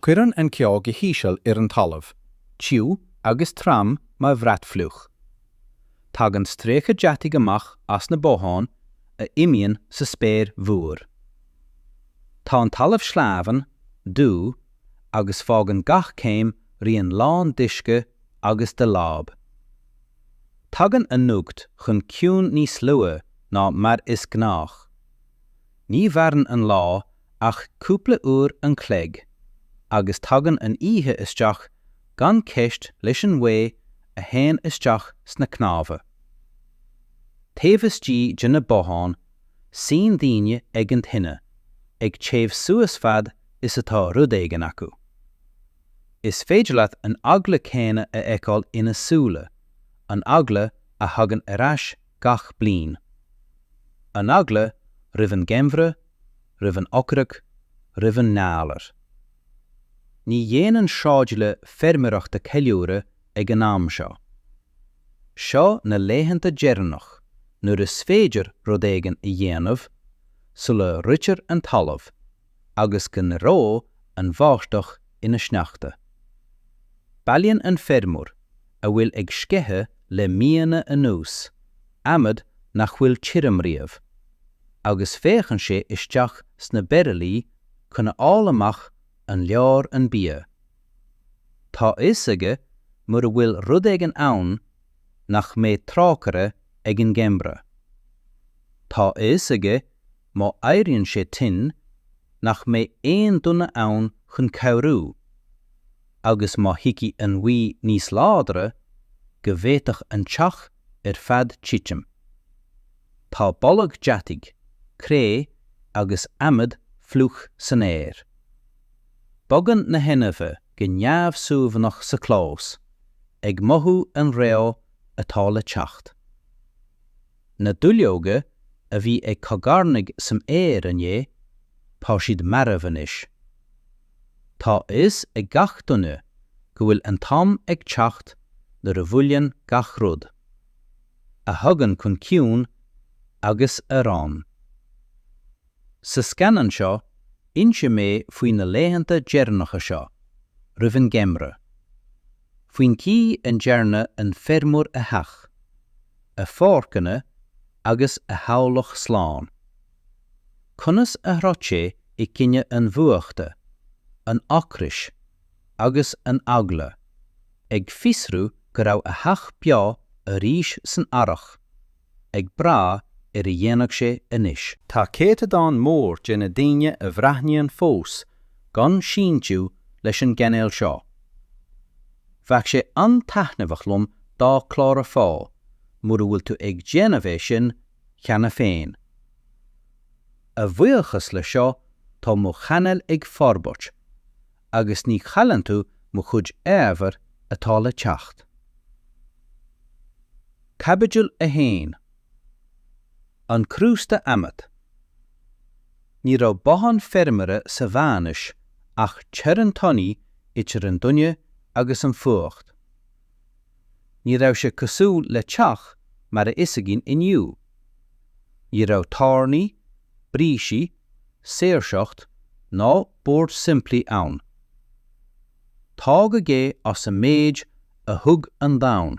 Cuireann an ceo go híseal ar an talamh, tiubh agus trom mar bhrat fliuch. Tagann stríoca deataigh amach as na botháin a imíonn sa spéir mhór. Tá an talamh sleamhain, dubh, agus fágann gach céim rian lán d'uisce agus de láib. Tagann a n-ucht chun ciúin níos lugha ná mar is gnách. Ní mhaireann an lá ach cúpla uair an chloig, agus tagann an oíche isteach gan ceist leis an ghaoth a théann isteach sna cnámha. Taobh istigh de na botháin, suíonn daoine ag an tine, ag téamh suas fad is atá rud éigin acu. Is féidir leat an eagla céanna a fheiceáil ina súile, an eagla a thagann ar ais gach bliain. An eagla roimh an gheimhreadh, roimh an ocras, roimh an ngalar. Ní dhéanann sráidbhaile feirmeoireachta ceiliúradh ag an am seo. Seo na laethanta deireanach nuair is féidir rud éigin a dhéanamh sula reoitear an talamh agus go n-éireodh an bháisteach ina sneachta. Bailíonn an feirmeoir a bhfuil ag sceitheadh le míonna anuas, adhmad nach bhfuil tirim riamh, agus féachann sé isteach sna bairillí chun a fháil amach an leor an bia. Tá a fhios aige mura bhfuil rud éigin ann nach mbeidh trócaire ag an gheimhreadh. Tá a fhios aige Má éiríonn sé tinn, nach mbeidh aon duine ann chun cabhrú, agus má thiocfaidh an ghaoth níos láidre, go bhféadfadh an teach ar fad titim. Tá boladh deataigh, cré agus adhmad fliuch san aer. Bogann na hainmhithe go neamhshuaimhneach sa chlós, ag mothú an reo atá le teacht. na duilleoga a bhí ag cogarnaigh san aer inné, tá siad marbh anois. Tá a fhios ag gach duine go bhfuil an t-am ag teacht nuair a bhuaileann gach rud, a thugann chun ciúin agus a reonn, Sa scannán seo, inseoidh mé faoi na laethanta deireanacha seo, roimh an gheimhreadh. Faoin chaoi a ndearna an feirmeoir a theach, a pháirceanna agus a theaghlach slán. Conas a throid sé i gcoinne an bhfuachta, an ocrais agus an eagla, ag fiosrú go raibh a theach beo arís san earrach. ag brath ar a dhéanfadh sé anois. Tá céatadán mór de na daoine a bhreathnaíonn fós gan síntiú leis an gcainéal seo. Bheadh sé an-taithneamhach liom dá clárafá, mura bhfuil tú ag déanamh é sin cheana féin. A bhuíochas le seo tá mo chainéal ag forbairt, agus ní chailleann tú mo chuid ábhair atá le teacht. Caibidil 1. An crústa adhmaid. Ní raibh bothán feirmeora sa Mheánaois ach teorainn tanaí idir an duine agus an fuacht. Ní raibh sé cosúil le teach mar is fios againn inniu. Ní raibh tairní, brící, saoirseacht ná boird simplí ann. Tógadh é as an méid a thug an domhan.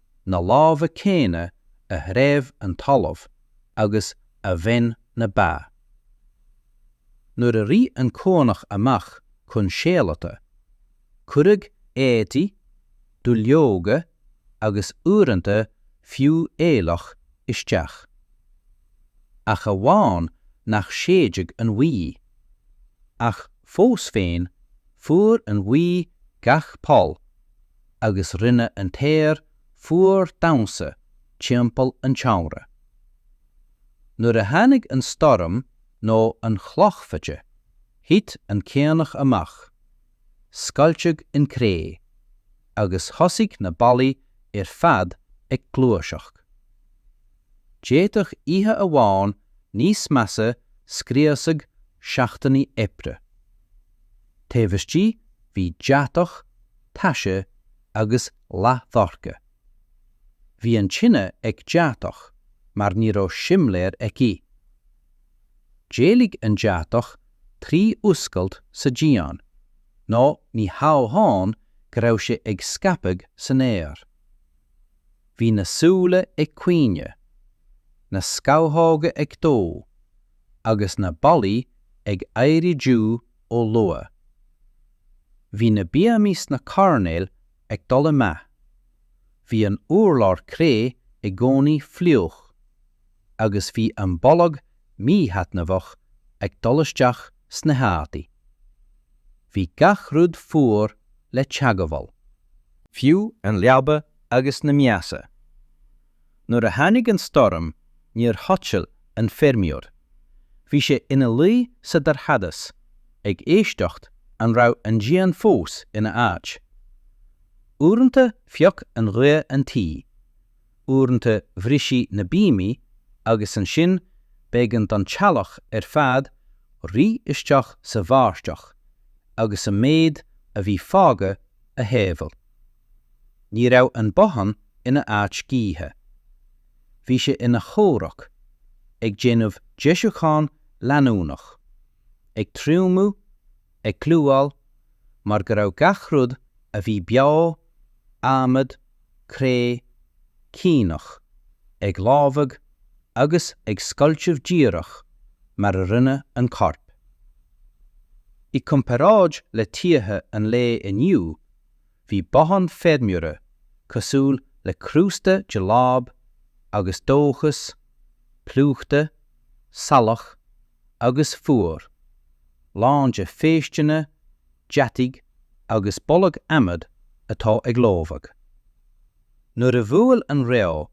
na lámha céanna a threibh an talamh agus a bhain na ba. Nuair a rith an caonach amach chun séalaithe, cuireadh éadaí, duilleoga agus uaireanta fiú aoileach isteach. Ach amháin nach séideadh an ghaoth. Ach fós féin, fuair an ghaoth gach poll agus rinne an t-aer fuar damhsa timpeall an tseomra. Nuair a tháinig an stoirm nó an chlochfhaide, thit an caonach amach, scoilteadh an chré, agus thosaigh na ballaí ar fad ag gluaiseacht. D'fhéadfadh oíche amháin níos measa scriosadh seachtainí oibre. Taobh istigh bhí deatach, taise agus leathdhorcha. Bhí an tine ag deatach mar ní raibh simléar aici. D'éalaigh an deatach trí oscailt sa díon, nó ní hamháin go raibh sé ag scaipeadh san aer. Bhí na súile ag caoineadh, na scamhóga ag dó, agus na ballaí ag éirí dubh ó luath. Bhí na bíomaí sna coirnéil ag dul i meath, bhí an urlár cré i gcónaí fliuch, agus bhí an boladh míthaitneamhach ag dul isteach sna heádaí. Bhí gach rud fuar le teagmháil. Fiú an leaba agus na miasa. Nuair a tháinig an stoirm, níor chodail an feirmeoir. Bhí sé ina luí sa dorchadas, ag éisteacht an raibh an díon fós ina áit. Uaireanta phioc an ghaoth an tuí, uaireanta bhriseadh na bíomaí agus ansin b'éigean don teaghlach ar fad rith isteach sa bháisteach agus an méid a bhí fágtha a shábháil. Ní raibh an bothán ina áit scíthe. Bhí sé ina chomhrac, ag déanamh deisiúchán leanúnach, ag triomú, ag clúdach, mar go raibh gach rud a bhí beo, adhmad, cré, caonach, ag lobhadh agus ag scoilteadh díreach mar a rinne an corp. I gcomparáid le tithe an lae inniu, Bhí bothán feirmeora cosúil le crústa de láib agus dóchas, plúchta, salach agus fuar, lán de phéisteanna, deataigh agus boladh adhmaid atá ag lobhadh. Nuair a bhuail an reo,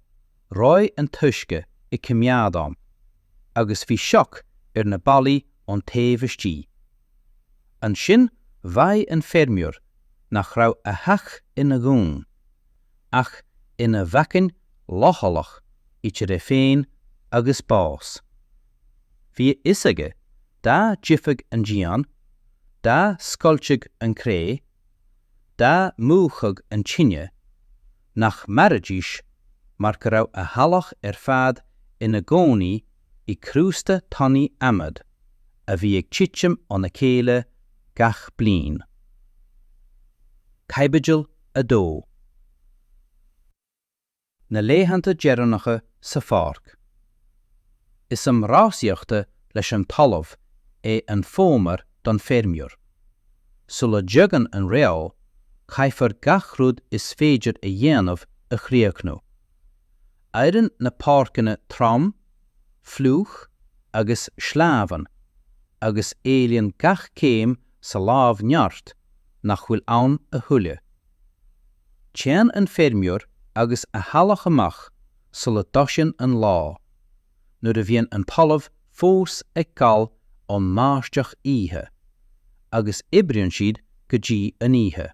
reoigh an t-uisce i coimeádán agus bhí sioc ar na ballaí ón taobh istigh. Ansin bhraith an feirmeoir nach raibh a theach ina dhún, ach ina bhacainn leochaileach idir é féin agus bás. Bhí a fhios aige dá dtitfeadh an díon, dá scoiltfeadh an cré, dá múchfadh an tine, nach mairidís mar go raibh a theaghlach ar fad ina gcónaí i gcrústa tanaí adhmaid a bhí ag titim óna chéile gach bliain. Caibidil 2. Na laethanta deireanacha sa pháirc. Is am rásaíochta leis an talamh é an fómhar don feirmeoir. Sula dtagann an reo, caithfear gach rud is féidir a dhéanamh a chríochnú. Éiríonn na páirceanna trom, fliuch agus sleamhain agus éilíonn gach céim sa láib neart nach bhfuil ann a thuilleadh. Téann an feirmeoir agus a theaghlach amach sula dtosaíonn an lá, nuair a bhíonn an talamh fós ag gal ón mbáisteach oíche, agus oibríonn siad go dtí an oíche.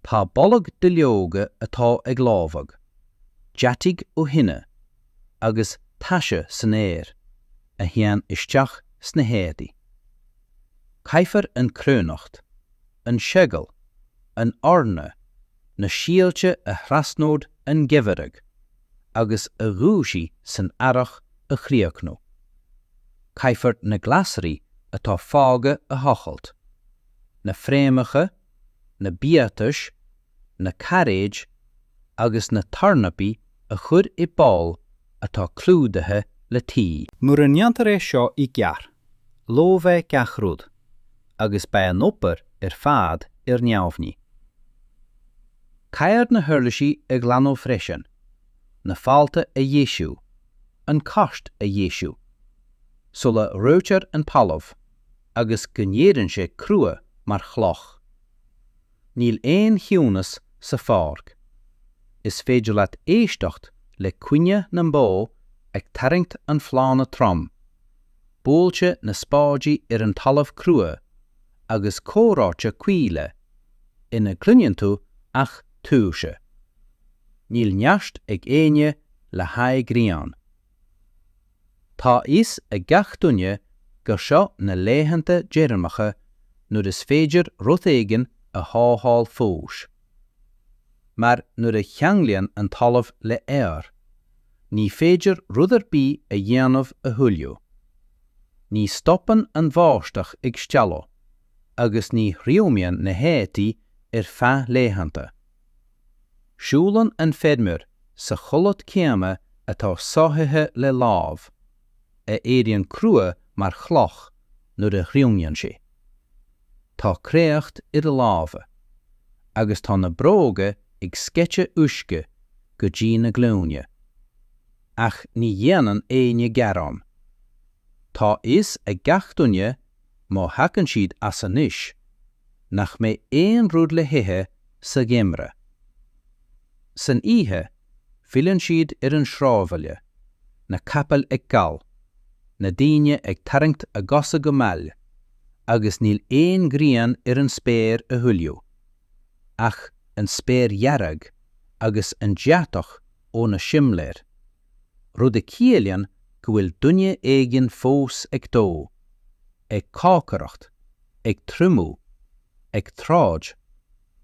Tá boladh duilleoga atá ag lobhadh, deataigh ó thine, agus taise san aer, a théann isteach sna héadaí. Caithfear an chruithneacht, an seagal, an eorna, na síolta a thrasnódh an geimhreadh agus a dhúisigh san earrach a chríochnú. Caithfear na glasraí atá fágtha a thochailt, na fréamhacha, na biatais, na cairéid agus na tornapaí a chur i bpoll atá clúdaithe le tuí. Mura ndéantar é seo i gceart, lobhfaidh gach rud. agus beidh an obair ar fad ar neamhní. Caithfear na huirlisí a ghlanadh freisin, na fálta a dheisiú, an cairt a dheisiú, sula reoitear an talamh agus go n-éiríonn sé crua mar chloch. Níl aon chiúnas sa pháirc. Is féidir leat éisteacht le caoineadh na mbó ag tarraingt an phlána throm. buailte na spáidí ar an talamh crua agus comhráite caola ina gcluineann tú ach tuirse. Níl neart ag éinne le haghaidh greann. Tá a fhios ag gach duine gur seo na laethanta deireanacha nuair is féidir rud éigin a shábháil fós. Mar nuair a cheanglaíonn an talamh le aer, ní féidir rud ar bith a dhéanamh a thuilleadh. Ní stopann an bháisteach ag stealladh, agus ní thriomaíonn na héadaí ar feadh laethanta. Siúlann an feirmeoir sa chulaith céanna atá sáithithe le láib. a éiríonn crua mar chloch nuair a thriomaíonn sé. Tá créacht ar a lámha, agus tá na bróga ag sceitheadh uisce go dtí na glúine. Ach ní dhéanann éinne gearán. Tá a fhios ag gach duine, má thagann siad as anois, nach mbeidh aon rud le hithe sa gheimreadh. San oíche, Filleann siad ar an sráidbhaile, na capaill ag gol, na daoine ag tarraingt a gcosa go mall, agus níl aon ghrian ar an spéir a thuilleadh, ach an spéir dhearg agus an deatach ó na simléir, rud a chiallaíonn go bhfuil duine éigin fós ag dó, ag cócaireacht, ag triomú, ag troid.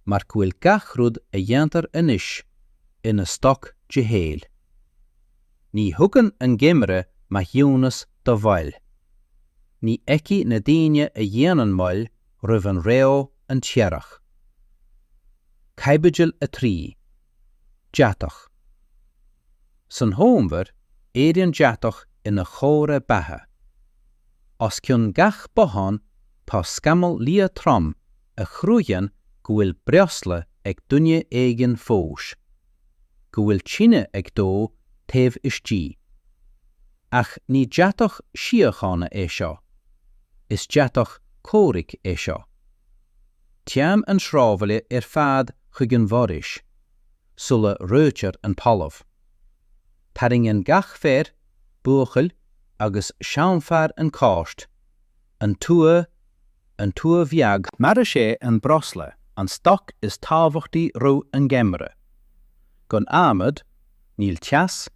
mar go bhfuil gach rud a dhéantar anois ina stoc de shaol. Ní thugann an geimhreadh maithiúnas do mhoill. Ní fheicfidh na daoine a dhéanann moill roimh an reo an t-earrach. Caibidil 3. Deatach. San fhómhar, éiríonn deatach ina chomhartha beatha. Os cionn gach bothán tá scamall liath trom a chruthaíonn go bhfuil breosla ag duine éigin fós, go bhfuil tine ag dó taobh istigh. Ach ní deatach síochána é seo. Is deatach comhraic é seo. Téann an sráidbhaile ar fad chuig an bhforaois sula reoitear an talamh. Tarraingíonn gach fear, buachaill agus seanfhear an cairt. An tua, an tua bheag. Mar is é an breosla an stoc is tábhachtaí roimh an ngeimhreadh. Gan adhmad, níl teas,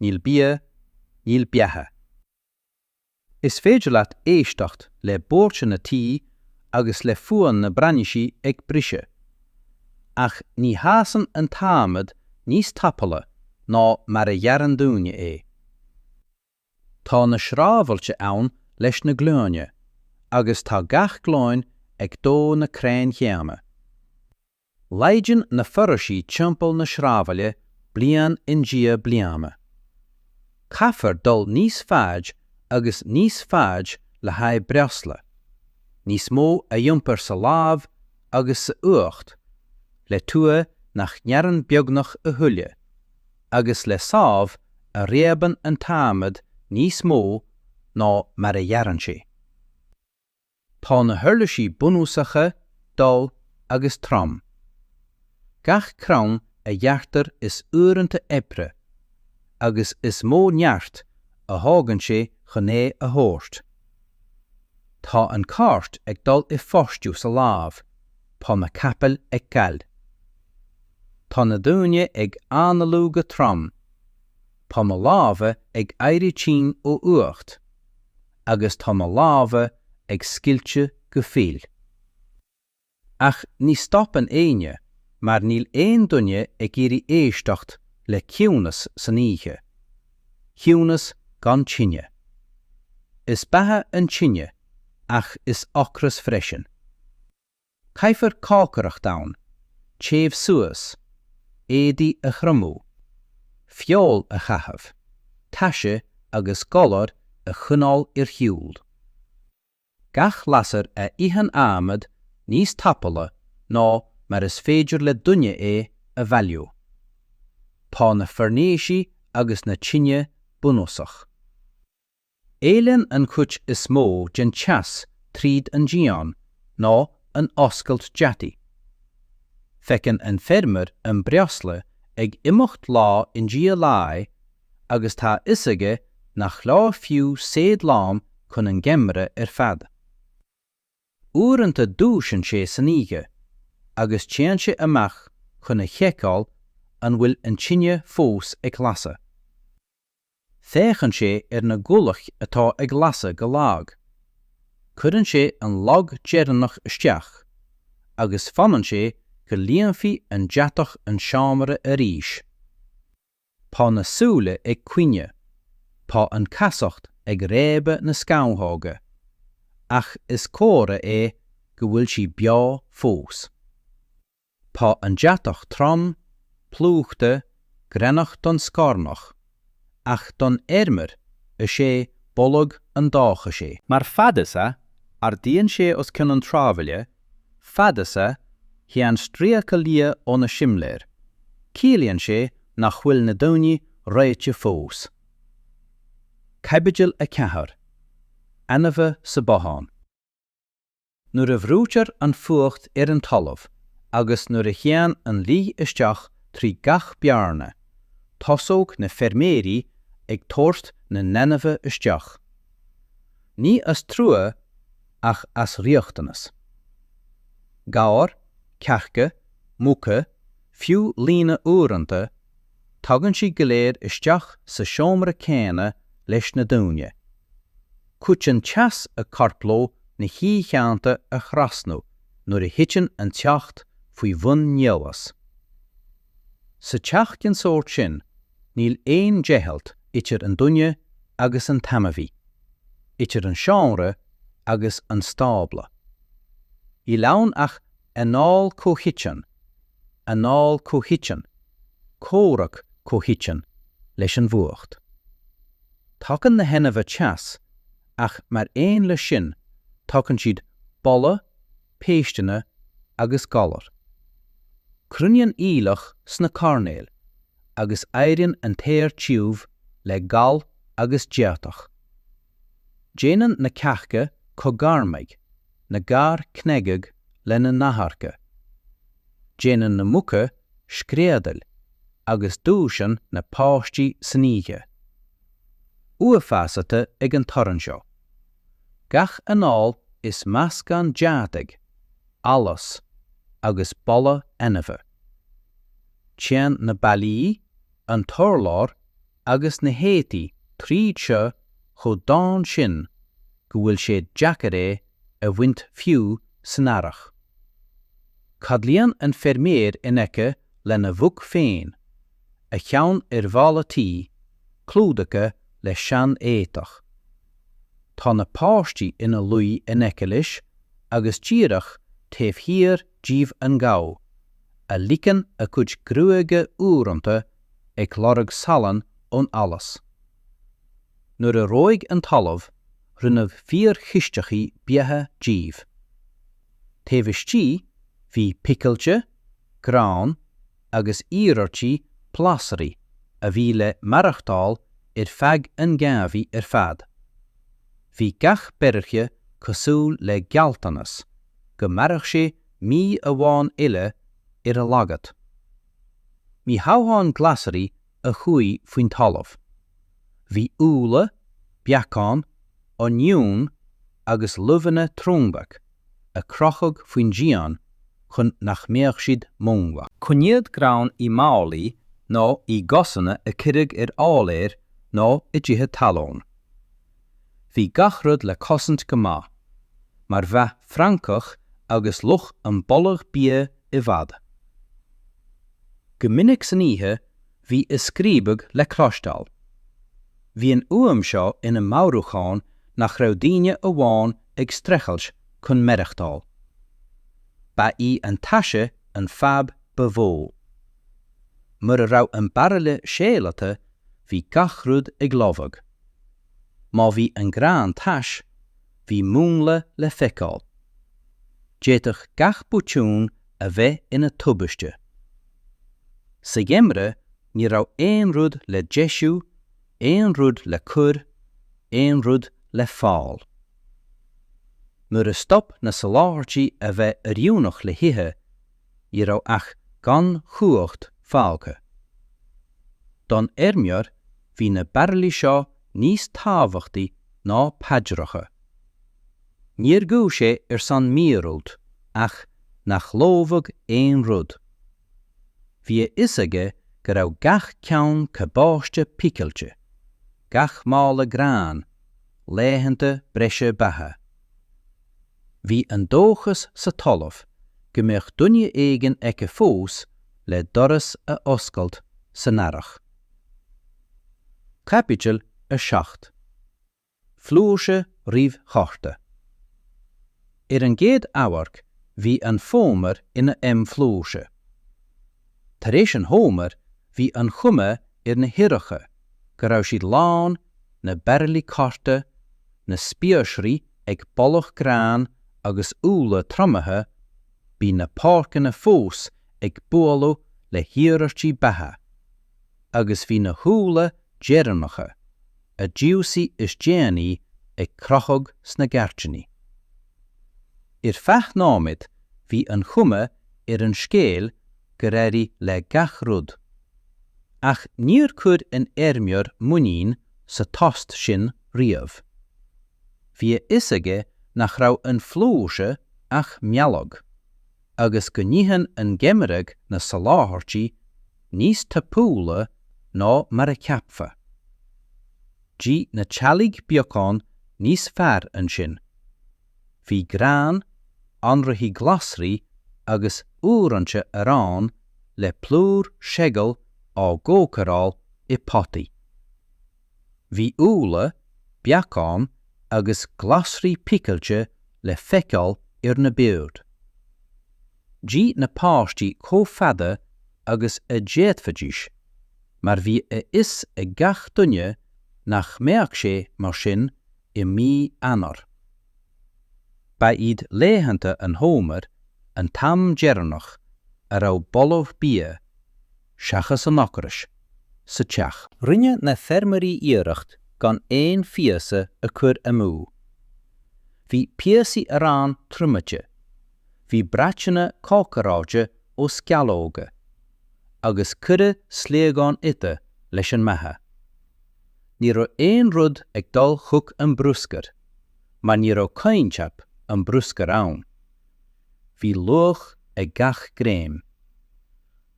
níl bia, níl beatha. Is féidir leat éisteacht le buillí na tua agus le fuaim na mbrainsí ag briseadh. Ach ní fhásann an t-adhmad níos tapúla ná mar a ghearrann daoine é. Tá na sráidbhailte ann leis na glúine agus tá gach glúin ag dó na crainn chéanna. Laghdaíonn na foraoisí timpeall na sráidbhaile bliain i ndiaidh bliana. Caithfear dul níos faide agus níos faide le haghaidh breosla, níos mó a iompar sa láib agus sa fhuacht le tua nach ngearrann beagnach a thuilleadh. agus le sábh a réabann an t-adhmad níos mó ná mar a ghearrann sé. Tá na huirlisí bunúsacha dall agus trom. Gach crann a ghearrtar is uaireanta oibre agus is mó neart a thógann sé chun é a thabhairt. Tá an cairt ag dul i bhfostú sa láib, tá na capaill ag gal. Tá na daoine ag análú go trom. Tá mo lámha ag éirí tinn ó fhuacht. Agus tá mo lámha ag scoilteadh go fuil. Ach ní stopann éinne mar níl aon duine ag iarraidh éisteacht le ciúnas san oíche. Ciúnas gan tine. Is beatha an tine ach is ocras freisin. Caithfear cócaireacht ann, téamh suas, éadaí a thriomú, feoil a chaitheamh, taise agus galar a choinneáil ar shiúl. Gach lasair a itheann adhmad níos tapúla ná mar is féidir le duine é a bhailiú. Tá na foirnéisí agus na tinte bunúsach. Éalaíonn an chuid is mó den teas tríd an díon nó an oscailt deataigh. Feiceann an feirmeoir an breosla ag imeacht lá i ndiaidh lae agus tá a fhios aige nach leor fiú seid lán chun an gheimhridh ar fad. Uaireanta dúisíonn sé san oíche agus téann sé amach chun a sheiceáil an bhfuil an tine fós ag lasadh. Féachann sé ar na gualaigh atá ag lasadh go lag. Cuireann sé an lomán deireanach isteach, agus fanann sé go líonfaidh an deatach an seomra arís. Tá na súile ag caoineadh, tá an chasacht ag réabadh na scamhóga, ach is comhartha é go bhfuil sí beo fós. Tá an deatach trom, plúchta, greannach don scornach, ach don fheirmeoir, is é boladh an dóchais é. Mar fad is a ardaíonn sé os cionn an tsráidbhaile, fad is a théann stríoca liath ó na simléir, ciallaíonn sé nach bhfuil na daoine reoite fós. Caibidil 4. Ainmhithe sa bhothán. Nuair a bhrúitear an fuacht ar an talamh agus nuair a théann an ghaoth isteach trí gach bearna, tosaíonn na feirmeoirí ag tabhairt na n-ainmhithe isteach. Ní as trua ach as riachtanas. Gabhair, cearca, muca, fiú laonna uaireanta, tagann siad go léir isteach sa seomra céanna leis na daoine. Cuidíonn teas a corp leo na hoícheanta a thrasnú nuair a thiteann an teocht faoi bhun nialas. Sa teach den sórt sin, níl aon deighilt idir an duine agus an t-ainmhí, idir an seomra agus an stábla. Níl ann ach anáil chomhchoiteann, anáil chomhchoiteann, comhrac comhchoiteann leis an bhfuacht. Tugann na hainmhithe teas, ach mar aon leis sin tugann siad boladh, péisteanna agus galair. Cruinníonn aoileach sna coirnéil agus éiríonn an t-aer tiubh le gal agus deatach. Déanann na cearca cogarnaigh, na gabhair cnagaigh lena n-adharca, déanann na muca screadaíl agus dúisíonn na páistí san oíche, uafásaithe ag an torann seo. Gach anáil is meascán deataigh, allais agus boladh ainmhí. Téann na ballaí, an t-urlár, agus na héadaí tríd seo chomh domhain sin go bhfuil sé deacair é a bhaint fiú san earrach. Codlaíonn an feirmeoir in aice lena mhuc féin, a cheann ar bhalla tí, clúdaithe le seanéadach. Tá na páistí ina luí in aice leis agus díreach taobh thiar díobh an gabhar, a líonn a chuid gruaige uaireanta ag lorg salann ón allas. Nuair a reoigh an talamh, rinneadh fíor-chisteacha beatha díobh. Taobh istigh, bhí picilte, grán, agus iarmhair glasraí a bhí le maireachtáil ar feadh an gheimhridh ar fad. Bhí gach beart cosúil le gealltanas go mairfeadh sé mí amháin eile ar a laghad. Ní hamháin glasraí a chuaigh faoin talamh. Bhí úlla, beacáin, oinniúin agus luibheanna triomaithe a crochadh faoin díon chun nach mbeadh siad múnlach. Coinníodh grán i málaí nó i gcásanna a cuireadh ar áiléir nó i dtithe talún. Bhí gach rud le cosaint go maith, mar mhothódh francach agus luch an boladh bia i bhfad. Go minic san oíche bhí a scríobadh le cloisteáil. Bhí an fhuaim seo ina meabhrúchán nach raibh daoine amháin ag streachailt chun maireachtáil. Ba í an taise an fadhb ba mhó. Mura raibh an bairille séalata, bhí gach rud ag lobhadh. Má bhí an grán tais, bhí múnla le feiceáil. D'fhéadfadh gach botún a bheith ina tubaiste. Sa gheimreadh ní raibh aon rud le deisiú, aon rud le cur, aon rud le fáil. Nuair a stop na soláthairtí a bheith oiriúnach le hithe, ní raibh ach gan chumhacht fágtha. Don fheirmeoir bhí na bairillí seo níos tábhachtaí ná paidreacha. Níor ghuigh sé ar son míorúilt ach nach lobhadh aon rud. Bhí a fhios aige go raibh gach ceann cabáiste picilte, gach mála gráin, laethanta breise beatha. Bhí an dóchas sa talamh go mbeadh duine éigin acu fós le doras a oscailt san earrach. Caibidil 7. Flúirse roimh chatha. Ar an gcéad amharc bhí an Fómhar ina am flúirse. Tar éis an Fhómhair bhí an chuma ar na híthlanna go. go raibh siad lán, na bairillí cárta, na spiaosraí ag boladh gráin agus úlla triomaithe, bhí na páirceanna fós ag bualadh le hiarrachtaí beatha. Agus bhí na húlla deireanacha, a d'aibíodh is déanaí, ag crochadh sna gairdíní. Ar feadh nóiméad bhí an chuma ar an scéal gur éirigh le gach rud. Ach níor chuir an feirmeoir muinín sa tost sin riamh. Bhí a fhios aige nach raibh sa flúirse ach mealladh, agus go n-itheann an geimhreadh na soláthairtí níos tapúla ná mar a cheapfa. D'ith na teaghlaigh beagán níos fearr ansin. Bhí grán, anraithí glasraí agus uaireanta arán le plúr seagail á gcócaireáil i bpotaí. Bhí úlla, beacáin agus glasraí picilte le feiceáil ar na boird. D'ith na páistí chomh fada agus a d'fhéadfaidís mar bhí a fhios ag gach duine nach mbeadh sé mar sin i mí Eanáir. Ba iad laethanta an fhómhair an t-am deireanach a raibh boladh bia, seachas an ocrais, sa teach. Rinne na feirmeoirí iarracht gan aon phíosa a chur amú. Bhí píosaí aráin triomaithe, bhí bratanna cócaráilte ó screamhóga, agus cuireadh sliogáin uibhe leis an mbeatha. ní raibh aon rud ag dul chuig an bruscar, mar ní raibh coincheap an bhruscair ann. Bhí luach ag gach greim.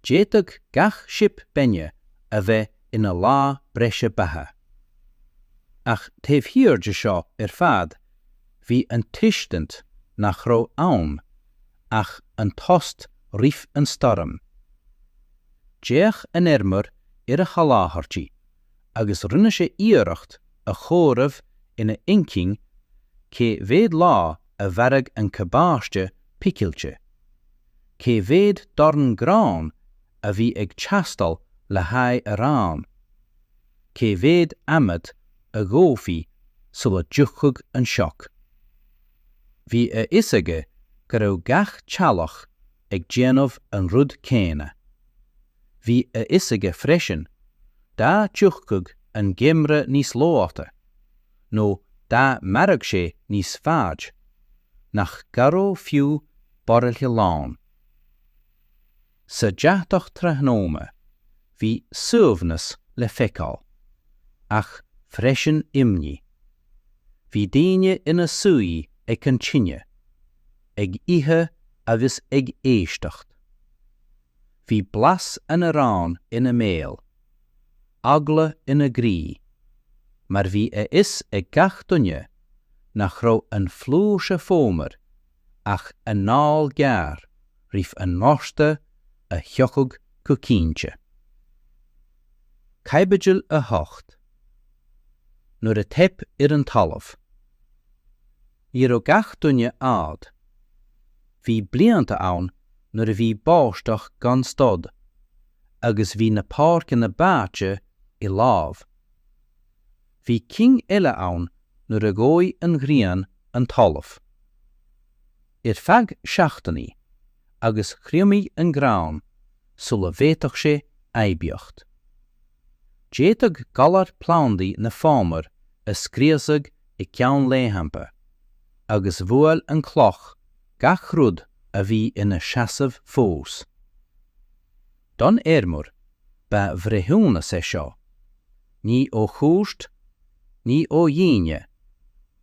D'fhéadfadh gach sip bainne a bheith ina lá breise beatha. Ach taobh thiar de seo ar fad, bhí an tuiscint nach raibh ann ach an tost roimh an stoirm. D'fhéach an feirmeoir ar a sholáthairtí. agus rinne sé iarracht a chomhaireamh ina inchinn cé mhéad lá a mhairfeadh an cabáiste picilte, cé mhéad dorn gráin a bhí ag teastáil le haghaidh aráin, cé mhéad adhmad a dhófaí sula dtiocfadh an sioc. Bhí a fhios aige go raibh gach teaghlach ag déanamh an rud céanna. Bhí a fhios aige freisin, dá dtiocfadh an geimhreadh níos luaithe, nó dá mairfeadh sé níos faide, nach gcabhródh fiú bairille lán. Sa deatach tráthnóna, bhí suaimhneas le feiceáil, ach freisin imní. Bhí daoine ina suí ag an tine, ag ithe agus ag éisteacht. Bhí blas an aráin ina mbéal. Eagla ina gcroí. Mar bhí a fhios ag gach duine nach raibh an flúirse fómhair ach anáil ghearr roimh an ngorta a thiocfadh go cinnte. Caibidil 8. Nuair a theip ar an talamh. Ní raibh gach duine ádh. Bhí blianta ann nuair a bhí báisteach gan stad agus bhí na páirceanna báite i láib. Bhí cinn eile ann nuair a dhóigh an ghrian an talamh. Ar feadh seachtainí agus thriomaigh an grán sula bhféadfadh sé aibíocht. D'fhéadfadh galar plandaí na fómhair a scriosadh i gceann laethanta, agus bhuail an chloch gach rud a bhí ina seasamh fós. Don fheirmeoir, ba bhreithiúnas é seo, ní ó chúirt, ní ó dhaoine,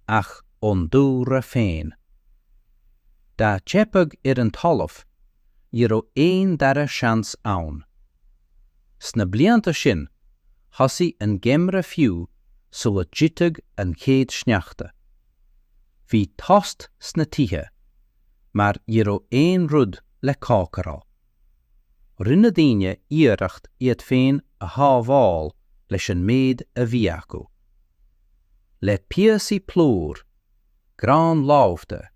ach ón dúlra féin. Dá dteipeadh ar an talamh, ní raibh aon dara seans ann. Sna blianta sin, Thosaigh an geimhreadh fiú sula dtitfeadh an chéad sneachta. Bhí tost sna tithe, mar ní raibh aon rud le cócaráil. Rinne daoine iarracht iad féin a shábháil leis an méid a bhí acu. Le píosaí plúr grán lofa,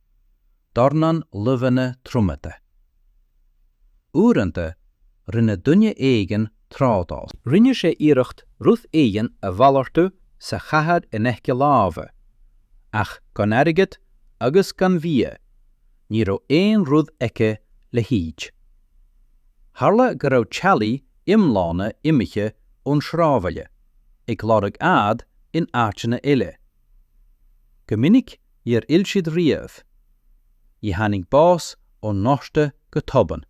dornán luibheanna triomaithe. Uaireanta, rinne duine éigin trádáil. Rinne sé iarracht rud éigin a mhalartú sa chathair in aice láimhe, ach gan airgead agus gan bhia, ní raibh aon rud aici le hídiú. Tharla go raibh teaghlaigh iomlána imithe ón sráidbhaile, ag lorg ádh in áiteanna eile. Go minic níor fhill siad riamh. Níor tháinig bás ón ngorta go tobann.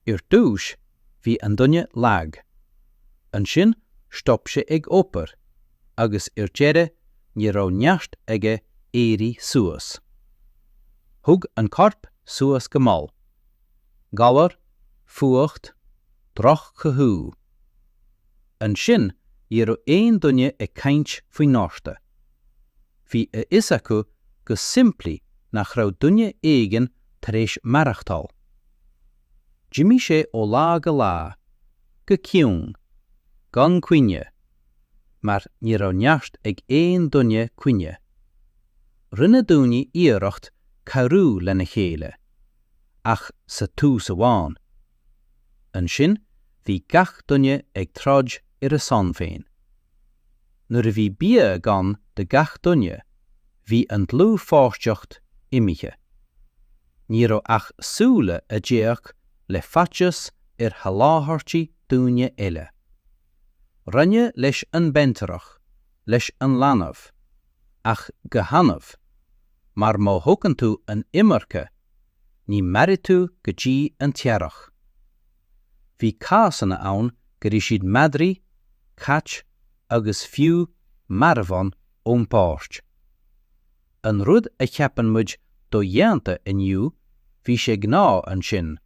Ar dtús, bhí an duine lag. Ansin stop sé ag obair agus ar deireadh ní raibh neart aige éirí suas. Thug an corp suas go mall. Galar, fuacht, droch-chothú. Ansin ní raibh aon duine ag caint faoin ngorta. Bhí a fhios acu go simplí nach raibh duine éigin tar éis maireachtáil. D'imigh sé ó lá go lá, go ciúin, gan caoineadh, mar ní raibh neart ag aon duine caoineadh. Rinne daoine iarracht cabhrú lena chéile, ach sa tús amháin. Ansin bhí gach duine ag troid ar a shon féin. Nuair a bhí bia gann do gach duine, bhí an dlúthpháirtiocht imithe. Ní raibh ach súile a d'fhéach le faitíos ar sholáthairtí daoine eile. Roinneadh leis an mbaintreach, leis an leanbh, ach go hannamh, mar má thugann tú an iomarca, ní mhairfidh tú go dtí an t-earrach. Bhí cásanna ann gur ith siad madraí, cait agus fiú marbhán ón bpáirc. An rud a cheapann muid dodhéanta inniu bhí sé gnáth ansin,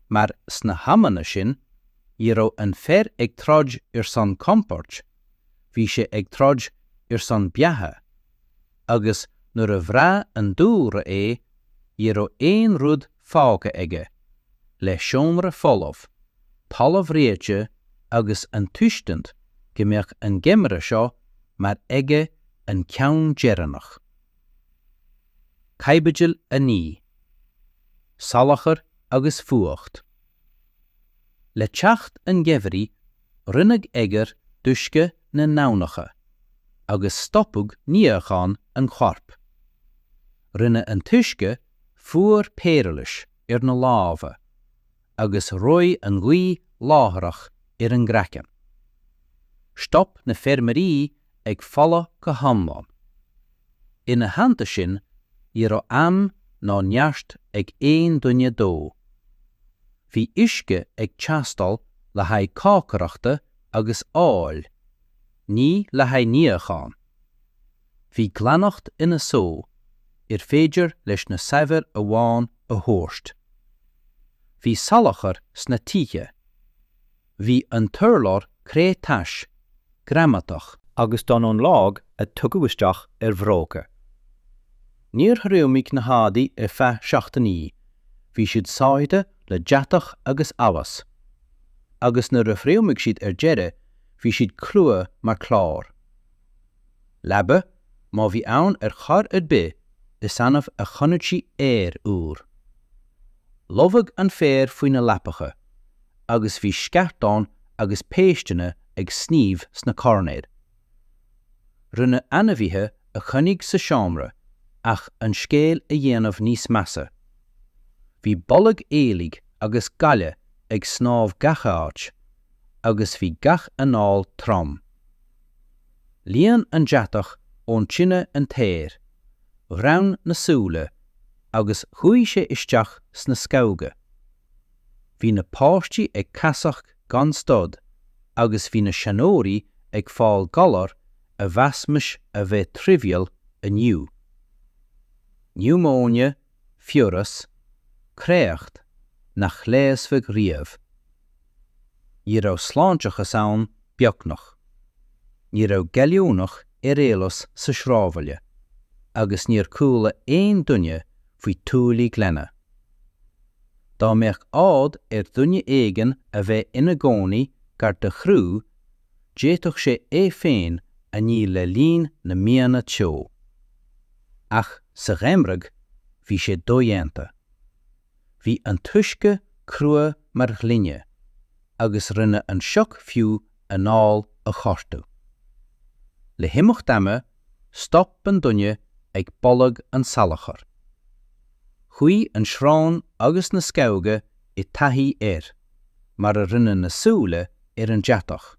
mar sna hamanna sin ní raibh an fear ag troid ar son compoird, bhí sé ag troid ar son beatha. agus nuair a bhrath an dúlra é, ní raibh aon rud fágtha aige, le seomra folamh, talamh reoite agus an tuiscint go mbeadh an geimhreadh seo mar aige an ceann deireanach. Caibidil 9. Salachar agus fuacht. Le teacht an gheimhridh rinneadh oighear d'uisce na n-aibhneacha, agus stopadh níochán an choirp. Rinne an t-uisce fuar pairilis ar na lámha, agus reoigh an ghaoth láithreach ar an gcraiceann. Stop na feirmeoirí ag folcadh go hiomlán. Ina theannta sin, ní raibh am ná neart ag aon duine dó. Bhí uisce ag teastáil le haghaidh cócaireachta agus óil, ní le haghaidh níocháin. Bhí glaineacht ina só arbh fhéidir leis na saibhir amháin a thabhairt. Bhí salachar sna tithe. Bhí an t-urlár cré tais, greamatach. Agus dubh ón láib a tugadh isteach ar bhróga. Níor thriomaigh na heádaí ar feadh seachtainí, bhí siad sáithithe le deatach agus allas. Agus nuair a thriomaigh siad ar deireadh, bhí siad crua mar chlár. Leaba, má bhí ann ar chor ar bith, is annamh a chonaic sí aer úr. Lobhadh an féar faoi na leapacha, agus bhí sceartáin agus péisteanna ag sníomh sna coirnéil. Rinneadh ainmhithe a choinnigh sa seomra ach an scéal a dhéanamh níos measa. Bhí boladh aoiligh agus gaile ag snámh gach áit agus bhí gach anáil trom. Líon an deatach ón tine an t-aer, ghreann na súile agus chuaigh sé isteach sna scamhóga. Bhí na páistí ag casacht gan stad agus bhí na seanóirí ag fáil galar a mheasaimis a bheith trivial inniu, niúmóine, fiabhras, créacht, nach leigheasfadh riamh. Ní raibh sláinteachas ann, beagnach. Ní raibh gallúnach ar eolas sa sráidbhaile agus níor chuala aon duine faoi thuáillí glana. Dá mbeadh ádh ar dhuine éigin a bheith ina gcónaí gar do shruth, d'fhéadfadh sé é féin a ní le linn na míonna teo. Ach sa gheimhreadh, bhí sé dodhéanta. Bhí an t-uisce crua mar ghloine, agus rinne an sioc fiú anáil a ghortú. Le himeacht ama, stop an duine ag boladh an tsalachair. Chuaigh an srón agus na scamhóga i dtaithí air, mar a rinne na súile ar an deatach.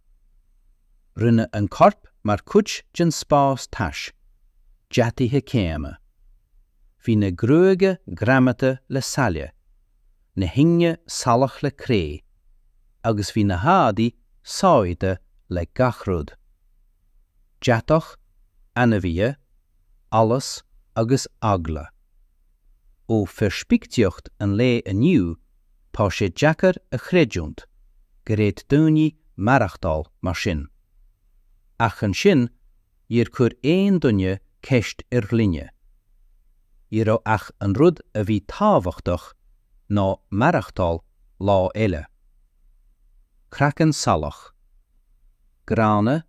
Rinne an corp mar chuid den spás tais, deataithe céanna. Bhí na gruaige greamaithe le saill. na hingne salach le cré, agus bhí na heádaí sáithithe le gach rud, deatach, ainmhithe, allas agus eagla. Ó pheirspictíocht an lae inniu tá sé deacair a chreidiúnt gur fhéad daoine maireachtáil mar sin. Ach ansin níor chuir aon duine ceist ar ghlaine. Ní raibh ach an rud a bhí tábhachtach ná maireachtáil lá eile. Craiceann salach. Gránna,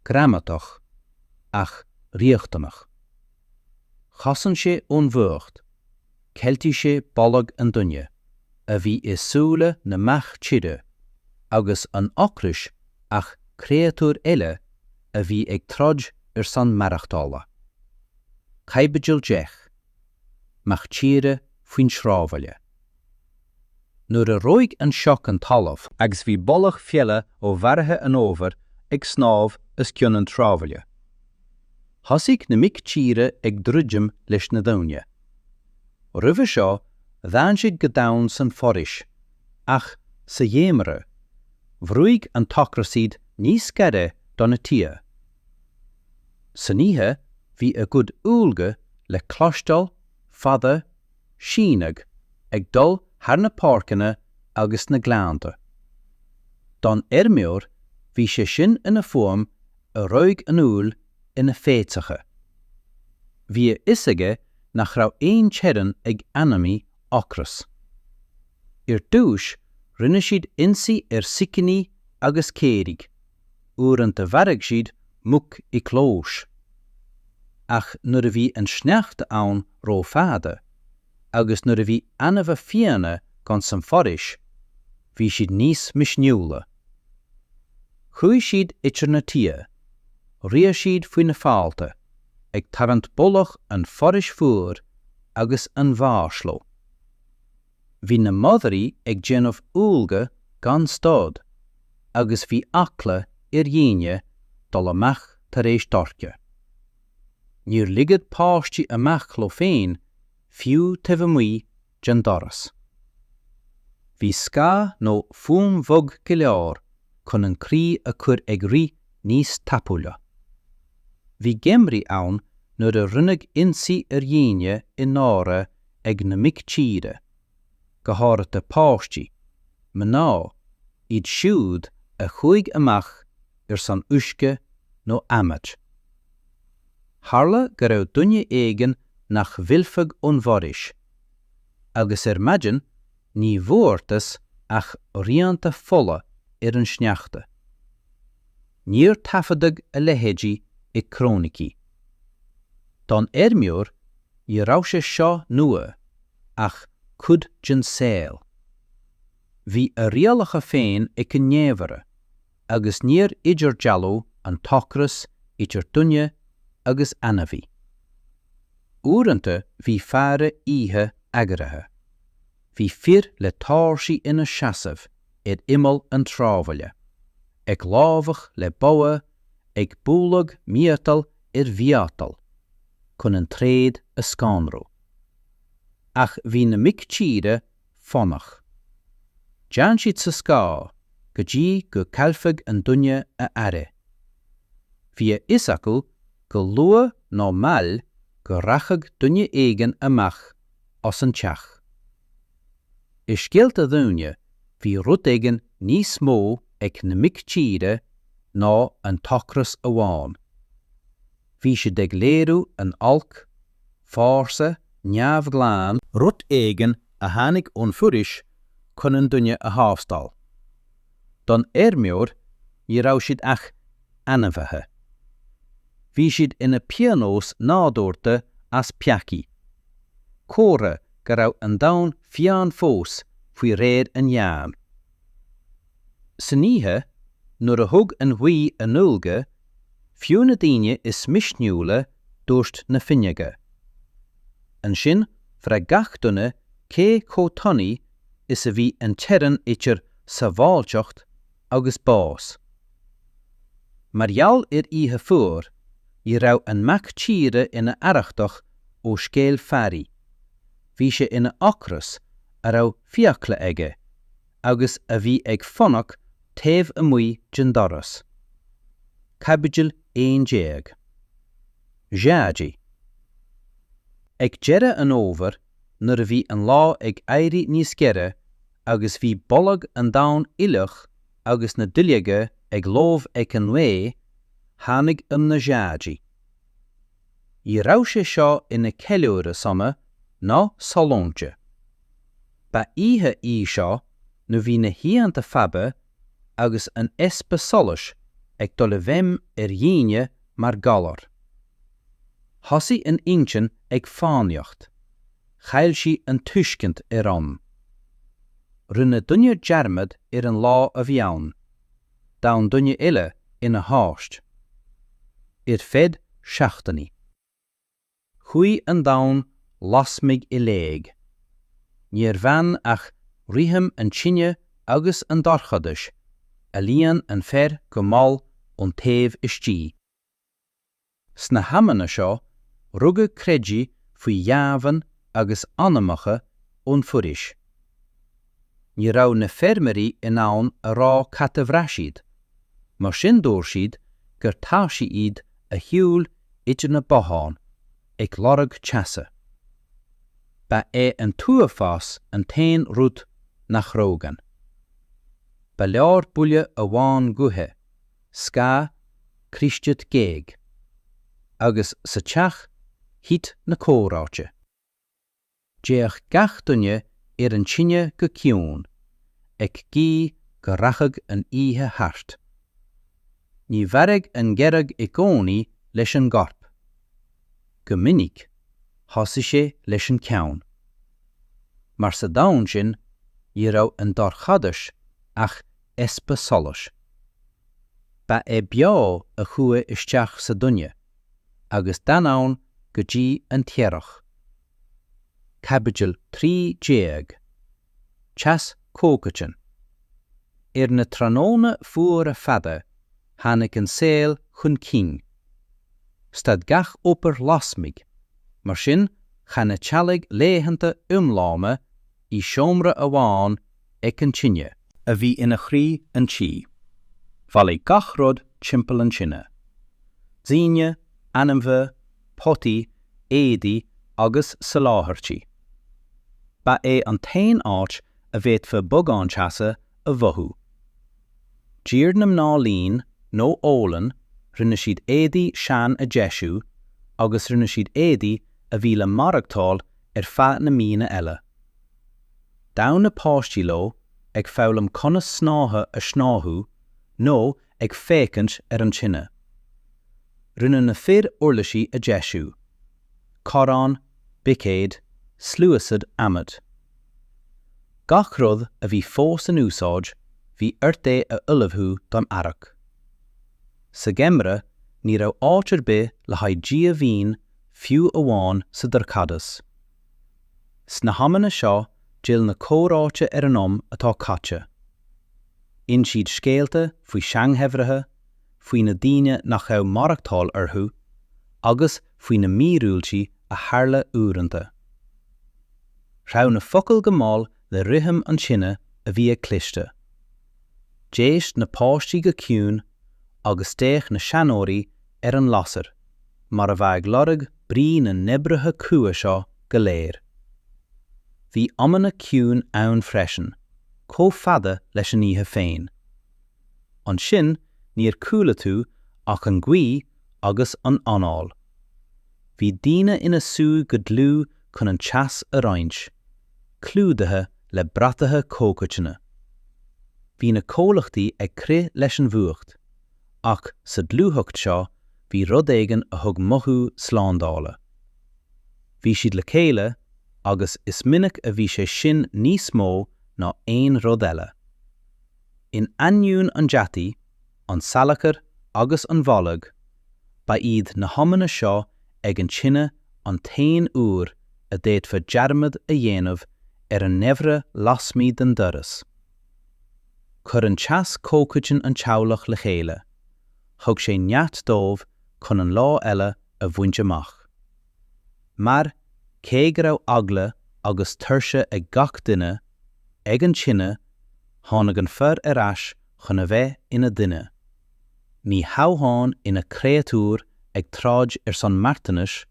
greamatach, ach riachtanach. Chosain sé ón bhfuacht. Cheiltí sé boladh an duine a bhí i súile na mac tíre agus an t-ocras ach créatúir eile a bhí ag troid ar son maireachtála. Caibidil 10. Mac tíre faoin sráidbhaile. nuair a reoigh an sioc an talamh, agus bhí boladh feola ó mharaithe an fhómhair ag snámh os cionn an tsráidbhaile, thosaigh na mic tíre ag druidim leis na daoine. Roimhe seo, d'fhan siad go domhain san foraois, ach sa gheimhreadh, bhrúigh an t-ocras iad níos gaire do na tithe. San oíche, bhí a gcuid uallfartaí le cloisteáil fada sínte ag dul thar na páirceanna agus na gleannta. Don fheirmeoir bhí sé sin ina fuaim a reoigh an fhuil ina fhéitheacha. Bhí a fhios aige nach raibh aon teorainn ag ainmhí ocrais. Ar dtúis rinne siad ionsaí ar sicíní agus caoirigh. Uaireanta mharaigh siad muc i gclós. Ach nuair a bhí an sneachta ann ró-fhada, agus nuair a bhí ainmhithe fiáine gann san foraois, bhí siad níos misniúla. Chuaigh siad idir na tithe, shiúil siad faoi na fálta, ag tarraingt boladh an foraois fuair agus an bháis leo. Bhí na madraí ag déanamh uaille gan stad agus bhí eagla ar dhaoine dul amach tar éis dorcha. Níor ligeadh páistí amach leo féin fiú taobh amuigh den doras. Bhí scáth nó fuaim bhog go leor chun an croí a chur ag rith níos tapúla. Bhí geimhrí ann nuair a rinneadh ionsaí ar dhaoine i ndáiríre ag na mic tíre, go háirithe páistí, mná, iad siúd a chuaigh amach ar son uisce nó adhmaid. Tharla go raibh duine éigin nach bhfillfeadh ón bhforaois, agus ar maidin ní bhfuarthas ach rianta fola ar an sneachta. Níor taifeadadh a leithéid i gcróinicí. Don fheirmeoir, ní raibh sé seo nua, ach cuid den saol. Bhí a rialacha féin ag an ngeimhreadh, agus níor idirdhealaigh an t-ocras idir duine agus ainmhí. Uaireanta bhí faire oíche eagraithe. Bhí fir le tóirsí ina seasamh ar imeall an tsráidbhaile, ag lámhach le bogha, ag bualadh miotal ar mhiotal, chun an tréad a scanrú. Ach bhí na mic tíre foighneach. D'fhan siad sa scáth go dtí go gcaillfeadh an duine a aire. Bhí a fhios acu go luath nó mall go rachadh duine éigin amach as an teach. I scéalta daoine bhí rud éigin níos mó ag na mic tíre ná an t-ocras amháin. Bhí siad ag léiriú an oilc, fórsa neamhghlan, rud éigin a tháinig ón bhforaois chun an duine a thástáil. Don fheirmeoir ní raibh siad ach ainmhithe. Bhí siad ina bpionós nádúrta as peacaí, comhartha go raibh an domhan fiáin fós faoi réir an Ghleann. San oíche, nuair a thug an ghaoth a n-uilge, fiú na daoine is misniúla dhún na fuinneoga. Ansin bhraith gach duine cé chomh tanaí is a bhí an teorainn idir sábháilteacht agus bás. Mar gheall ar oíche fuar, ní raibh an mac tíre ina arrachtach ó scéal fairy. Bhí sé ina ocras, a raibh fiacla aige, agus a bhí ag fanacht taobh amuigh den doras. Caibidil 11. Dziady. Ag deireadh an fhómhair. nuair a bhí an lá ag éirí níos giorra agus bhí boladh an domhain fhliuch agus na duilleoga ag lobhadh ag an ngaoth, tháinig am na Dziady. Ní raibh sé seo ina ceiliúradh sona nó sollúnta. Ba oíche í seo nuair a bhí na hoícheanta fada agus an easpa solais ag dul i bhfeidhm ar dhaoine mar galar. Thosaigh an intinn ag fánaíocht. Chaill sí an tuiscint ar am. Rinne duine dearmad ar an lá a bhí ann. D'fhan duine eile ina thost ar feadh seachtainí. Chuaigh an domhan lasmuigh i léig. Níor fhan ach rithim an tine agus an dorchadais a líon an fear go mall ón taobh istigh. Sna hamanna seo, rugadh creidimh faoi dheamhan agus anamacha ón bhforaois. Ní raibh na feirmeoirí in ann a rá cad a bhraith siad, mar sin dúirt siad gur taibhsí iad a shiúil idir na botháin, ag lorg teasa. Ba é an t-uafás an t-aon rud nach reodh ann. Ba leor buille amháin gaoithe. scáth Críostit géag. Agus sa teach thit na comhráite. D'fhéach gach duine ar an tine go ciúin, ag guí go rachadh an oíche thart. Ní mharódh an geimhreadh i gcónaí leis an gcorp. Go minic, thosaigh sé leis an gceann. Mar sa domhan sin, ní raibh an dorchadas ach easpa solais. Ba é beo a chuaigh isteach sa duine agus d'fhan ann go dtí an t-earrach. Caibidil 13. Teas comhchoiteann. Ar na tráthnóna fuara fada tháinig an saol chun cinn. Stad gach obair lasmuigh, mar sin chaith na teaghlaigh laethanta iomlána i seomra amháin ag an tine. a bhí ina chroí an tí. Bhailigh gach rud timpeall an tine. Daoine, ainmhithe, potaí, éadaí agus soláthairtí. Ba é an t-aon áit a bhféadfá bogán teasa a mhothú. D'iarr na mná líon nó olann, rinne siad éadaí sean a deisiú agus rinne siad éadaí a bhí le maireachtáil ar feadh na míonna eile. D'fhan na páistí leo ag foghlaim conas snáithe a shnáthú nó ag féachaint ar an tine. Rinne na fir uirlisí a deisiú, corráin, buicéid, sluaistí adhmaid. Gach rud a bhí fós in úsáid bhí ort é a ullmhú don earrach. Sa gheimreadh ní raibh áit ar bith le haghaidh díomhaoin fiú amháin sa dorchadas. Sna hamanna seo d'fhill na comhráite ar an am atá caite. Inis siad scéalta faoi sheangheimhrí, faoi na daoine nach raibh maireachtáil orthu, agus faoi na míorúiltí a tharla uaireanta. Threabh na focail go mall le rithim an tine a bhí ag cliste. D'éist na páistí go ciúin agus d'fhéach na seanóirí ar an lasair, mar a bheadh ag lorg brí na n-oibrithe crua seo go léir. Bhí amanna ciúin ann freisin, chomh fada leis an oíche féin. Ansin níor chuala tú ach an ghaoth agus an anáil. Bhí daoine ina suí go dlúth chun an teas a roinnt, clúdaithe le bratacha comhchoiteanna. Bhí na comhlachtaí ag crith leis an bhfuacht, Ach sa dlúthacht seo bhí rud éigin a thug mothú slándála. Bhí siad le chéile, agus is minic a bhí sé sin níos mó ná aon rud eile. In ainneoin an deataí, an tsalachair agus an bhoilg, ba iad na hamanna seo ag an tine an t-aon uair a d'fhéadfá dearmad a dhéanamh ar an ngeimhreadh lasmuigh den doras. Chuir an teas comhchoiteann an teaghlach le chéile. Thug sé neart dóibh chun an lá eile a bhaint amach. Mar, cé go raibh eagla agus tuirse ag gach duine, ag an tine, tháinig an fear ar ais chun a bheith ina dhuine. Ní hamháin ina chréatúr ag troid ar son marthanais,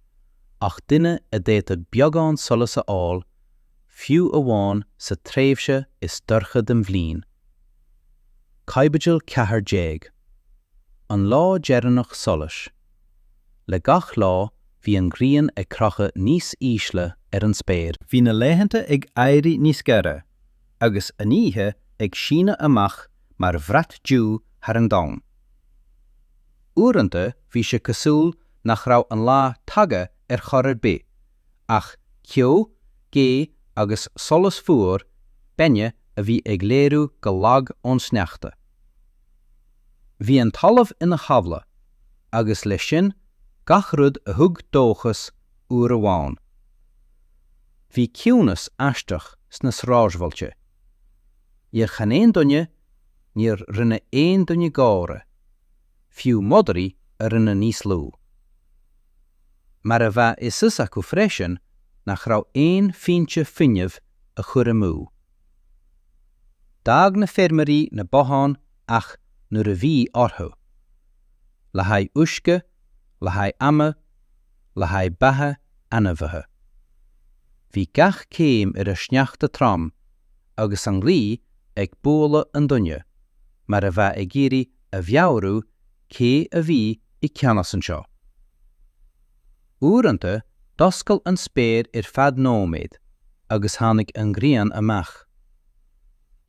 ach duine a d'fhéadfadh beagán solas a fháil, fiú amháin sa tréimhse is dorcha den bhliain. Caibidil 14. An lá deireanach solais. Le gach lá bhí an ghrian ag crochadh níos ísle ar an spéir. Bhí na laethanta ag éirí níos gaire, agus an oíche ag síneadh amach mar bhrat tiubh thar an domhan. Uaireanta bhí sé cosúil nach raibh an lá tagtha ar chor ar bith, ach ceo, gaoth agus solas fuar, beinne a bhí ag léiriú go lag ón sneachta. Bhí an talamh ina tháibhle, agus leis sin, gach rud a thug dóchas uair amháin. Bhí ciúnas aisteach sna sráidbhailte. Níor chan aon duine, níor rinne aon duine gáire, fiú madraí a rinne níos lú. mar a bheadh a fhios acu freisin nach raibh aon phointe fuinnimh a chur amú. D'fhág na feirmeoirí na botháin ach nuair a bhí orthu. le haghaidh uisce, le haghaidh adhmaid, le haghaidh beatha ainmhithe. Bhí gach céim ar an sneachta trom agus an ghaoth ag bualadh an duine, mar a bheadh ag iarraidh a mheabhrú cé a bhí i gceannas anseo. Uaireanta, d'oscail an spéir ar feadh nóiméad agus tháinig an ghrian amach.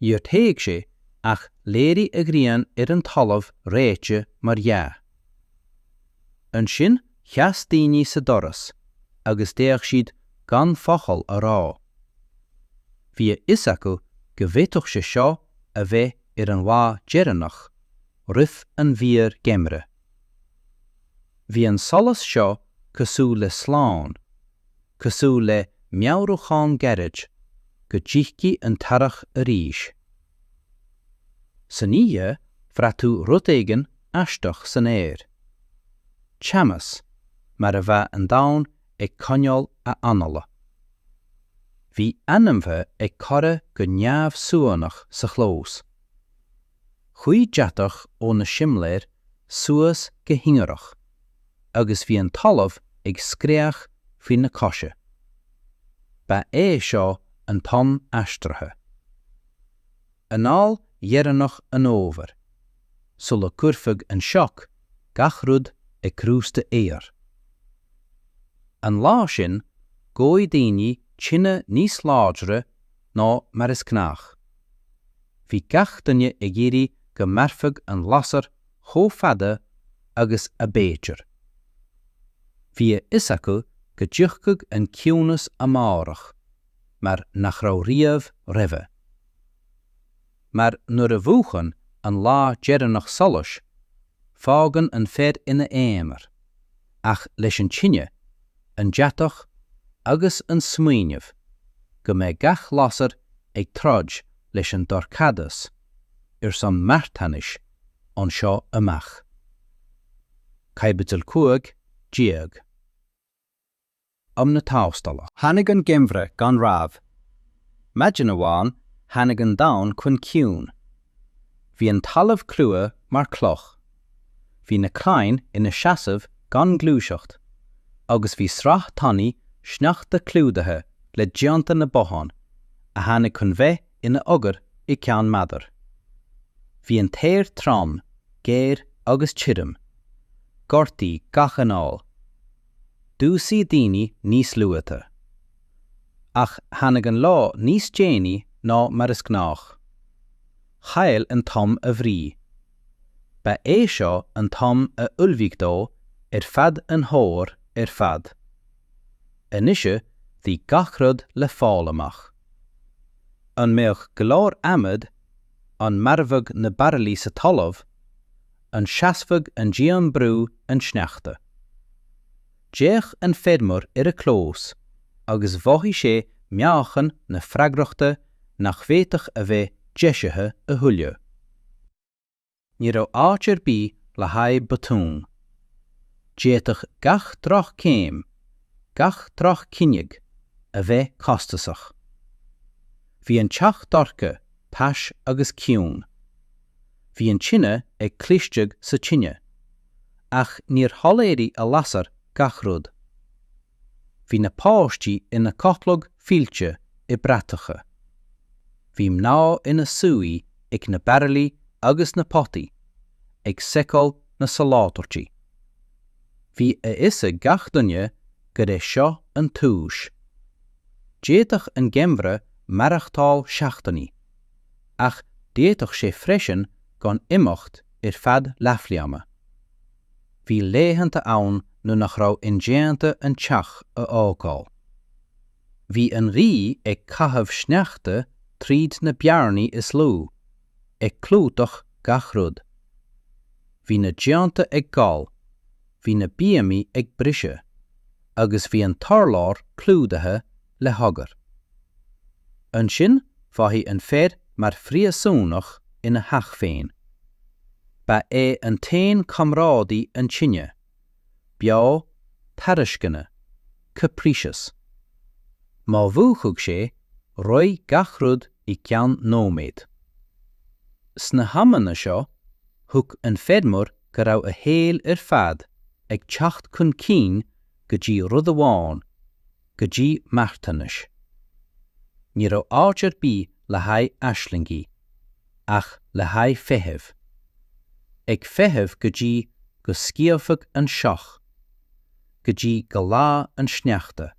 Níor théigh sí ach léirigh an ghrian ar an talamh reoite mar dhea. Ansin sheas daoine sa doras agus d'fhéach siad gan focal a rá. Bhí a fhios acu go bhféadfadh sé seo a bheith ar an lá deireanach. roimh an bhfíorgheimhreadh. Bhí an solas seo cosúil le slán, cosúil le meabhrúchán gairid go dtiocfaidh an t-earrach arís. San oíche bhraith tú rud éigin aisteach san aer. Teannas, mar a bheadh an domhan ag coinneáil a anála. Bhí ainmhithe ag corraí go neamhsuanach sa chlós. Chuaigh deatach ó na simléir suas go hingearach agus bhí an talamh ag scréach faoi na cosa. Ba é seo an t-am aistrithe. Anáil dheireanach an fhómhair, sula gcuirfeadh an sioc gach rud i gcrústa oighir. An lá sin, dhóigh daoine tine níos láidre ná mar is gnách. Bhí gach duine ag iarraidh go mairfeadh an lasair chomh fada agus ab fhéidir. Bhí a fhios acu go dtiocfadh an ciúnas amárach mar nach raibh riamh roimhe. Mar nuair a mhúchann an lá deireanach solais, fágann an fear ina aonar, ach leis an tine, an deatach agus an smaoineamh go mbeidh gach lasair ag troid leis an dorchadas ar son marthanais ón seo amach. Caibidil 15. Am na Tástála. Tháinig an geimhreadh gan rabhadh. Maidin amháin tháinig an domhan chun ciúin. Bhí an talamh crua mar cloch. Bhí na crainn ina seasamh gan gluaiseacht agus bhí sraith tanaí sneachta clúdaithe le díonta na bothán a tháinig chun bheith ina oighear i gceann meandair. Bhí an t-aer trom, géar agus tirim. Ghortaigh gach anáil. Dhúisigh daoine níos luaithe. Ach tháinig an lá níos déanaí ná mar is gnách. Chaill an t-am a bhrí. Ba é seo an t-am a ullmhaigh dó ar feadh an fhómhair ar fad. Anois bhí gach rud le fáil amach. An mbeadh go leor adhmaid? An mairfeadh na baraillí sa talamh? An seasfadh an díon brú an tsneachta? D'fhéach an feirmeoir ar a chlós agus mhothaigh sé meáchan na freagrachta nach bhféadfadh a bheith deisithe a thuilleadh. Ní raibh áit ar bith le haghaidh botún. D'fhéadfadh gach droch-chéim, gach droch-chinneadh, a bheith costasach. Bhí an teach dorcha, tais agus ciúin. Bhí an tine ag clisteaigh sa tine, ach níor shoiléirigh a lasair gach rud. Bhí na páistí ina gcodladh fillte i mbratacha. Bhí mná ina suí ag na bairillí agus na potaí, ag seiceáil na soláthairtí. Bhí a fhios ag gach duine gur é seo an tús. D'fhéadfadh an geimhreadh maireachtáil seachtainí. ach d'fhéadfadh sé freisin gan imeacht ar feadh leathbhliana. Bhí laethanta ann nuair nach raibh indéanta an teach a fhágáil. Bhí an ghaoth ag caitheamh sneachta tríd na bearnaí is lú, ag clúdach gach rud. Bhí na díonta ag gol, bhí na bíomaí ag briseadh, agus bhí an t-urlár clúdaithe le hoighear. Ansin fágadh an fear mar phríosúnach ina theach féin. Ba é an t-aon chomrádaí an tine, beo, tairisceana, capricious. Má múchadh sé, reoigh gach rud i gceann nóiméad. Sna hamanna seo, thuig an feirmeoir go raibh a shaol ar fad ag teacht chun cinn go dtí rud amháin, go dtí marthanas. Ní raibh áit ar bith le haghaidh aislingí, ach le haghaidh feithimh. Ag feitheamh go dtí go sciobfadh an sioc. Go dtí go leádh an sneachta.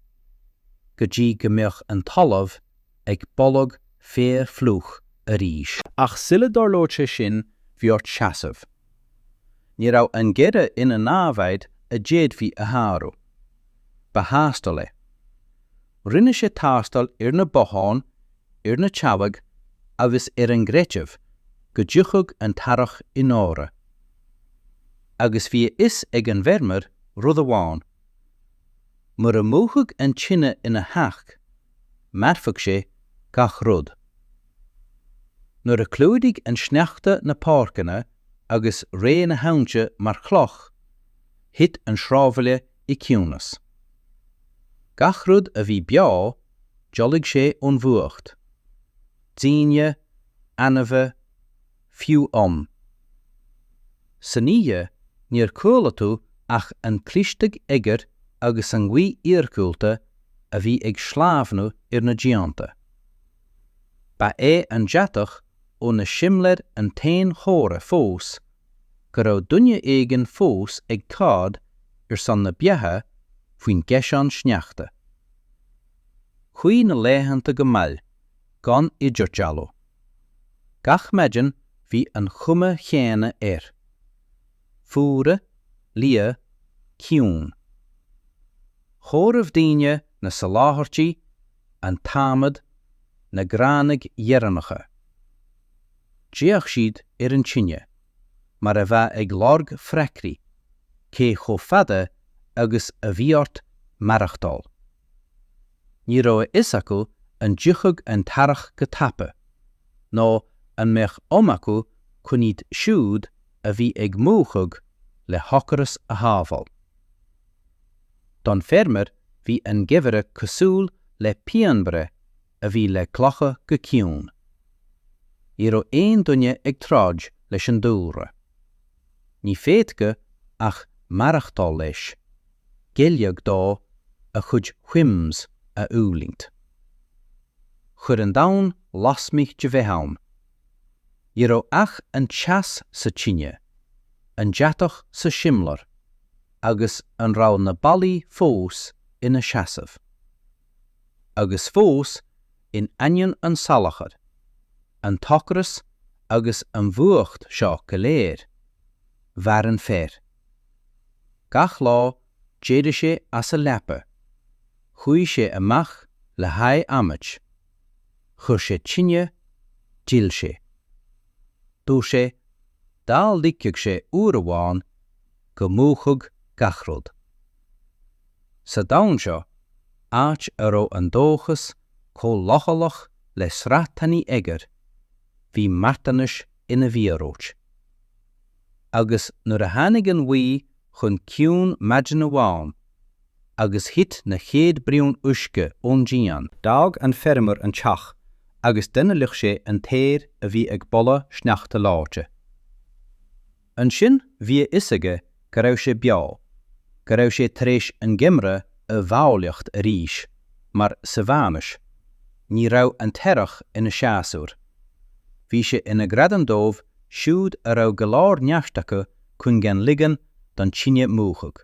Go dtí go mbeadh an talamh ag boladh fliuch arís. Ach sula dtarlódh sin, bhí ort seasamh. Ní raibh an geimhreadh ina namhaid a d'fhéadfaí a shárú. Ba thástáil é. Rinne sé tástáil ar na botháin, ar na teallaigh agus ar an gcreideamh go dtiocfadh an t-earrach i ndáiríre. Agus bhí a fhios ag an bhfeirmeoir rud amháin, mura múchfadh an tine ina theach, mhairfeadh sé gach rud. Nuair a chlúdaigh an sneachta na páirceanna agus reoigh na haibhnte mar chloch, thit an sráidbhaile i gciúnas. Gach rud a bhí beo, d'fholaigh sé ón bhfuacht. Daoine, ainmhithe, fiú ann. San oíche níor chuala tú ach an criostú oighir agus an ghaoth iargúlta a bhí ag sleamhnú ar na díonta. Ba é an deatach ó na simléir an t-aon chomhartha fós go raibh duine éigin fós ag troid ar son na beatha faoin gcaiseán sneachta. Chuaigh na laethanta go mall, gan idirdhealú. Gach maidin bhí an chuma chéanna air. Fuar, liath, ciúin. Chomhair daoine na soláthairtí, an t-adhmad, na gránaigh dheireanacha. D'fhéach siad ar an tine, mar a bheadh ag lorg freagraí, cé chomh fada agus a bhí ort maireachtáil. Ní raibh a fhios acu an dtiocfadh an t-earrach go tapa, nó an mbeadh am acu chun iad siúd a bhí ag múchadh le hocras a shábháil. Don feirmeoir bhí an geimhreadh cosúil le pianbhreith a bhí le glacadh go ciúin. Ní raibh aon duine ag troid leis an dúlra. Ní féadfadh ach maireachtáil leis, géilleadh dó, a chuid whims a fhulaingt. Chuir an domhan lasmuigh de bheith ann. Ní raibh ach an teas sa tine, an deatach sa simléar, agus an raibh na ballaí fós ina seasamh. Agus fós, in ainneoin an salachar, an t-ocras agus an bhfuacht seo go léir, mhair an fear. Gach lá, d'éirigh sé as a leaba, chuaigh sé amach le haghaidh adhmaid, chuir sé tine, d'fhill sé. Dúirt sé, dá ligfeadh sé uair amháin, go múchfadh gach rud. Sa domhan seo, áit a raibh an dóchas chomh leochaileach le sraith tanaí oighir, bhí marthanais ina mhíorúilt. Agus nuair a tháinig an ghaoth chun ciúin maidin amháin agus thit na chéad bhraon uisce ón díon, d'fhág an feirmeoir an teach agus d'ionanálaigh sé an t-aer a bhí ag boladh sneachta leáite. Ansin bhí a fhios aige go raibh sé beo, go raibh sé tar éis an geimhreadh a mhealladh arís, mar sa Mheánaois, ní raibh an t-earrach ina séasúr. Bhí sé ina ghradam dóibh siúd a raibh go leor neart acu chun gan ligean don tine múchadh.